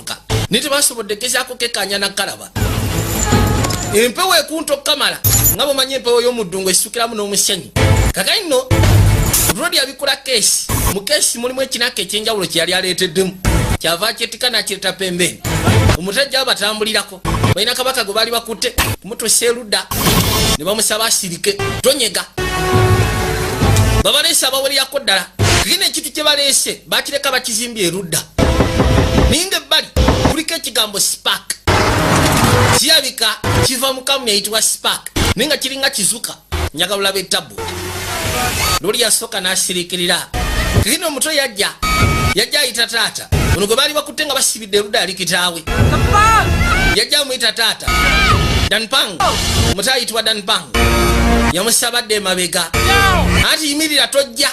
kuka naye tebasobodde gezaako kekaanya nakalaba empewo ekunta okukamala nga bwemanyi empewo y'omuddungu esukiramu n'omusenyu kakati nno rodi abikula keesi mu keesi mulimu ekinaka ekyenjawulo kyeyali aleeteddemu kyava kyetika nakireta pembeeni omutajja abatambulirako balina kabaka gwe baali bakutte kumutusa eruda ne bamusaba asirike tonyega babaleese abawereyako ddala kigina ekintu kye baleese bakireka bakizimbye erudda naye nga ebbali kuliko ekigambo spark kirabika kiva mukamu yayitibwa spark naye nga kiringa kizuka njaga lulaba ettabu luli yasooka n'asirikirira kino omuto yajja yajja ayita taata ono gwe baali bakutte nga basibidde eruda ali kitaawe yajja amuyita taata danpang omuto ayitibwa danpang yamusabadde emabega anti yimirira tojja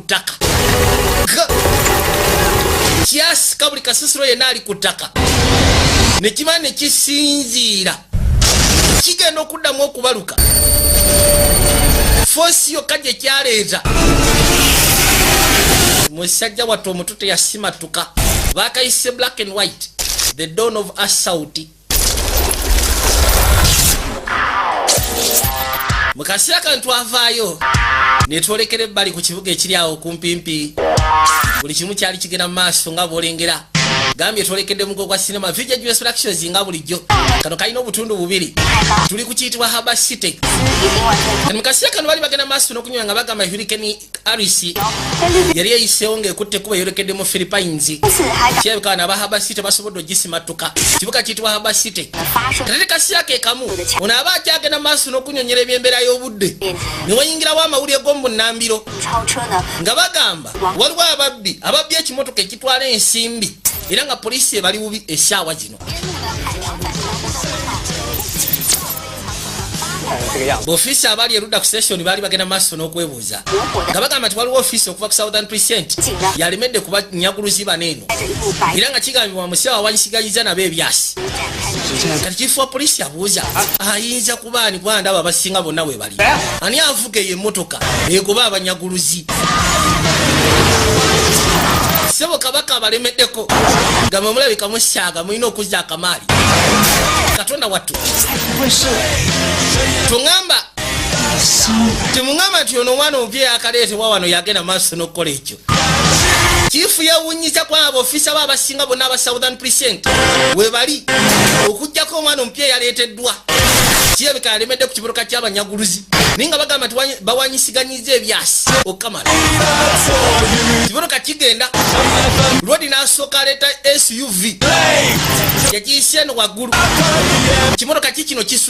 ku ttaka kyasika buli kasisiro yenna ali ku ttaka ne kiba ne kisinziira kigenda okuddamu okubaluka foosi yokka gye kyaleeta musajja wattu omutu teyasimattuka bakayise black and white the don of asauti mu kaseera kano twavaayo ne twolekera ebbali ku kibuga ekiri awo okumpimpi buli kimu kyali kigenda mu maaso nga bwolengera gambye twolekedde mugo gwa sinema vija us productions nga bulijjo kano kalina obutundu bubiri tuli ku kiyitibwa haba city mu kaseera kano bali bagenda maaso n'okunywa nga bagamba hurikeni arisi yali eyiseewo ng'ekutte kuba eyolekedde mu philippines kirabika bana aba haba city basobodde ogisimattuka kibuga kiyitibwa haba city kati tekasiyako ekamu ono aba akyagenda maaso n'okunyonyera ebyembeera y'obudde ne wayingirawo amawulire g'omunnambiro nga bagamba waliwo ababbi ababbi ekimotoka ekitwala ensimbi era nga poliisi ebali bubi esaawa zino ofiisi abaali erudda ku session baali bagenda maaso n'okwebuuza nga bagamba nti waliwo ofiisi okuva ku southern present yalemedde kuba nyaguluzi bana eno era nga kigambibwa musiawa wagisiganyiza nabo ebyasi kati kifuwa poliisi abuuza ayinza kuba ani kwandaba abasinga bonna webali ani evuga eyo emotoka egoba abanyaguluzi sebo kabaka abalemeddeko nga mwemulabika musyaga mulina okuzza akamaali katonda wattu tuŋamba temuŋamba nti ono omwana omupya yakaleetebwa wano yagenda maaso n'okukola ekyo kiifu yewunyiza ku abo ofisa bo abasinga bonna aba southern present webali okugjako omwana omupya eyaleeteddwa kirabika yalemedde ku kiburuka ky'abanyaguluzi naye nga bagamba nti bawanyisiganyiza ebyasi okukamala kiburuka kigenda lwodi n'asooka aleeta suv yagiyise eno waggulu kimuruka ki kino kisu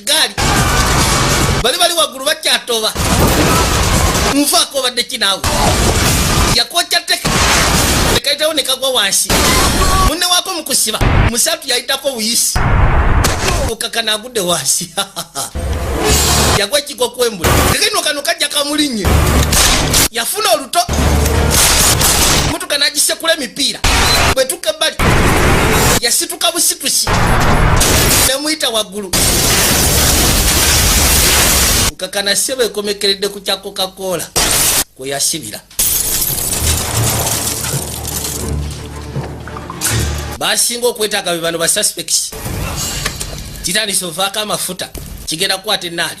gaali bali bali waggulu bakyatoba nvaako obadde kinaawe yakokya teke nekayitawo nekagwa wansi munne waako mukusiba musatu yayitako buyisi okakana agudde wansi yagwa ekiko kwembula tekeno kano kajja kamulinye yafuna oluto mutuka nagisekula emipiira bwetu yasituka ebbali yasituka busitusi nemuyita waggulu nkakana sebo ekomekeredde ku kya coca-cola kwe yasibira basinga okwetaaga be bano basuspects kitandisa ovaako amafuta kigenda kukwata enaali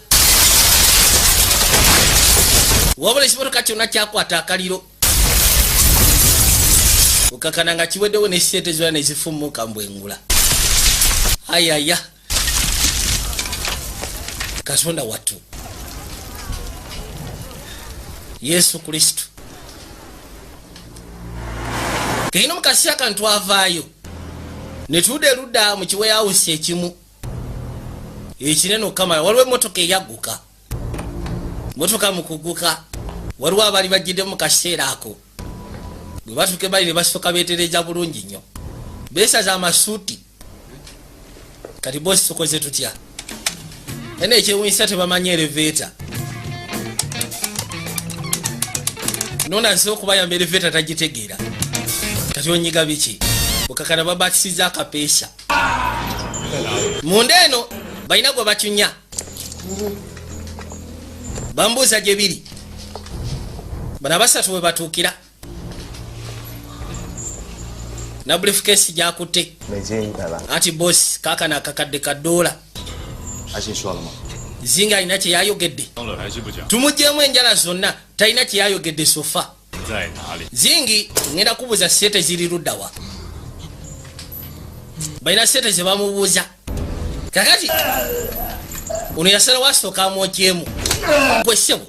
wabula ekimotoka kyonna kyakwata akaliro okakana nga kiweddewo nesente zona nezifumuka mbwengula ayaya katonda wattu yesu kristu keino mukasiya kantu avaayo netuuda eludda mu kiweyawusi ekimu ekinene okukamala waliwo emotoka eyagguka motoka mu kugguka waliwo abali bajjidde mu kaseera ako bwe batuuka ebali ne basooka beetereeza bulungi nnyo beesaza amasuuti kati bosi tukoze tutya ene ekyewunyisa tebamanyi ereveeta nona nsi okubayamba ereveeta tagitegeera kati onyiga biki okakana babatisiza akapeesa munda eno balina gwe bacunya bambuuza gye biri bano abasatu bwe batuukira na briefcase gyakutte anti bosi kakana akakadde kadoola zinga alina kyeyayogedde tumugyemu enjala zonna talina kyeyayogedde sofa zingi ngenda kubuza sete ziri ludawa balina sete zebamubuza kakati ono yasala wasoka mwokyemu kwesebo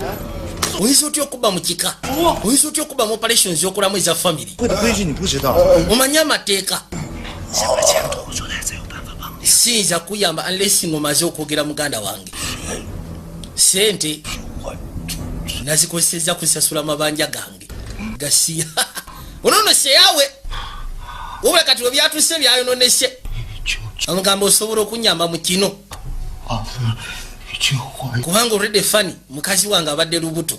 oyinza otya okuba mukika oyinza otya okuba muoperation zokulamu eza famiry omanye amateeka siyinza kuyamba unless ngomaze okwogera muganda wange sente nazikozeseza kusasula mabanja gange gasiya onono seyawe wabula kati webyatuse byayononese amugamba osobola okunyamba mu kino kubanga orede fani mukazi wange abadde lubuto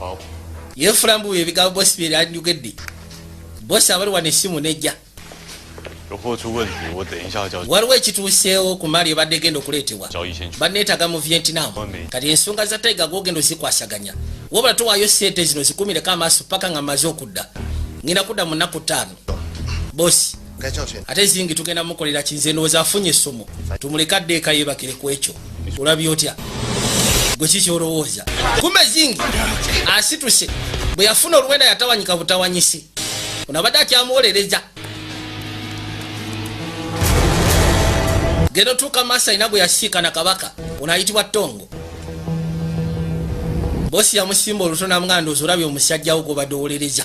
Oh. Ye flambu ye biga boss bi ran yugeddi. Boss abali wane simu neja. Roho chu wen ni wo den sha jao. Waliwo ekituuseewo ku mali ebadde genda okuleetebwa. Banneetaga mu Vietnam. Kati ensonga za Tiger gwogenda ozikwasaganya. Wabula towaayo ssente zino zikumireko amaaso paka nga maze okudda. Ngina kudda mu nnaku ttaano. bosi ate zingi tugenda mukolera kinze ndowooza afunye essomo tumuleke adde eka yebakire ku ekyo olabye otya gwe ki kyolowooza kumbe zingi asituse bwe yafuna oluwenda yatawanyika butawanyisi ono abadde akyamuwolereza genda otuuka maaso alina gwe yasiikana kabaka ono ayitibwa tongo bosi yamusimba oluto namuganda ozi olabye omusajjawo gwobadde owolereza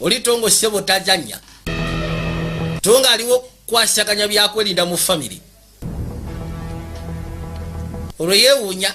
oli tongo sebo tajanya tonga aliwo kwasaganya byakwerinda mu family olwo yewunya